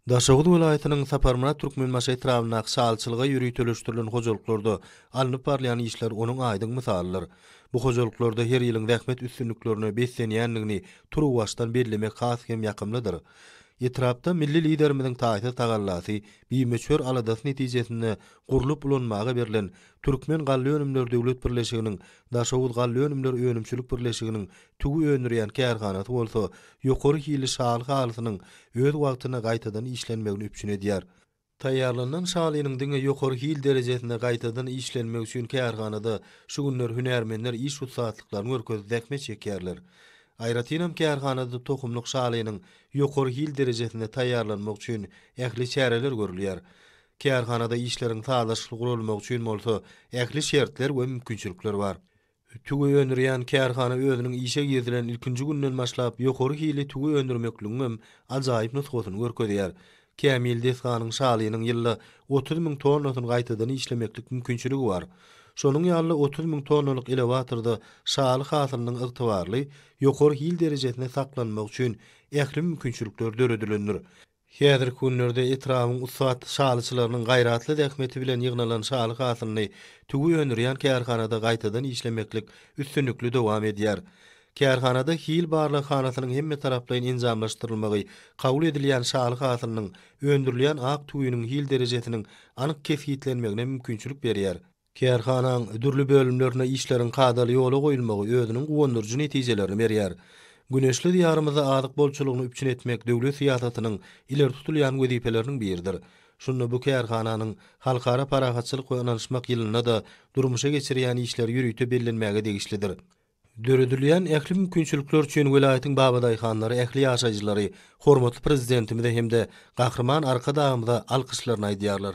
Daşoguz welaýatynyň Saparmyrat Türkmenbaşy etrabyndaky şalyçylyga ýöriteleşdirilen hojalyklarda alnyp barylýan işler onuň aýdyň mysalydyr. Bu hojalyklarda her ýylyň zähmet üstünliklerine beslenýändigini turuwbaşdan bellemek has hem ýakymlydyr. Etrapda milli Liderimiziň taýsyz tagallasy, bimöçber aladasy netijesinde gurlup ulanmaga berlen Türkmen galla önümleri döwlet birleşiginiň Daşoguz galla önümleri önümçilik birleşiginiň Tüwi öndürýän kärhanasy bolsa ýokary hilli şaly halysynyň öz wagtynda gaýtadan işlenmegini üpjün edýär. Taýýarlanylan şalynyň diňe ýokary hil derejesinde gaýtadan işlenmegi üçin kärhanada şu günler hünärmenler iş ussatlyklaryny görkezip zähmet çekýärler. Aýratynam kärhanada tohumlyk şalynyň ýokary hil derejesinde taýýarlanmagy üçin ähli çäreler görülýär. Kärhanada işleriň sazlaşykly guralmagy üçin bolsa ähli şertler we mümkinçilikler bar. Tüwi öndürýän kärhana özüniň işe girizilen ilkinji günden başlap ýokary hilli tüwi öndürmekligiň hem ajaýyp nusgasyny görkezýär. Kämil desganyň şalynyň ýylda otuz müň tonnasyny gaýtadan işlemeklik mümkinçiligi bar. Şonuň ýaly-da otuz müň tonnalyk elewatorda şaly hasylynyň ygtybarly, ýokary hil derejesinde saklanmagy üçin ähli mümkinçilikler döredilendir. Häzirki günlerde etrabyň ussat şalyçylarynyň gaýratly zähmeti bilen ýygnalan şaly hasylyny tüwi öndürýän kärhanada gaýtadan işlemeklik üstünlikli dowam edýär. Kärhanada hil barlaghanasynyň hemmetaraplaýyn enjamlaşdyrylmagy kabul edilýän şaly hasylynyň, öndürilýän ak tüwiniň hil derejesiniň anyk kesgitlenmegine mümkinçilik berýär. Kärhanaň dürli bölümlerinde işleriň kadaly ýola goýulmagy özüniň guwandyryjy netijelerini berýär. Güneşli Diýarymyzda azyk bolçulygyny üpjün etmek döwlet syýasatynyň ileri tutulýan wezipeleriniň biridir. Şunda bu kärhananyň Halkara parahatçylyk we ynanyşmak ýylynda-da durmuşa geçirýän işleri ýörite bellenmäge degişlidir. Döredilýän ähli mümkinçilikler üçin welaýatyň babadaýhanlary, ähli ýaşaýjylary hormatly Prezidentimize hem-de Gahryman Arkadagymyza alkyşlaryny aýdýarlar.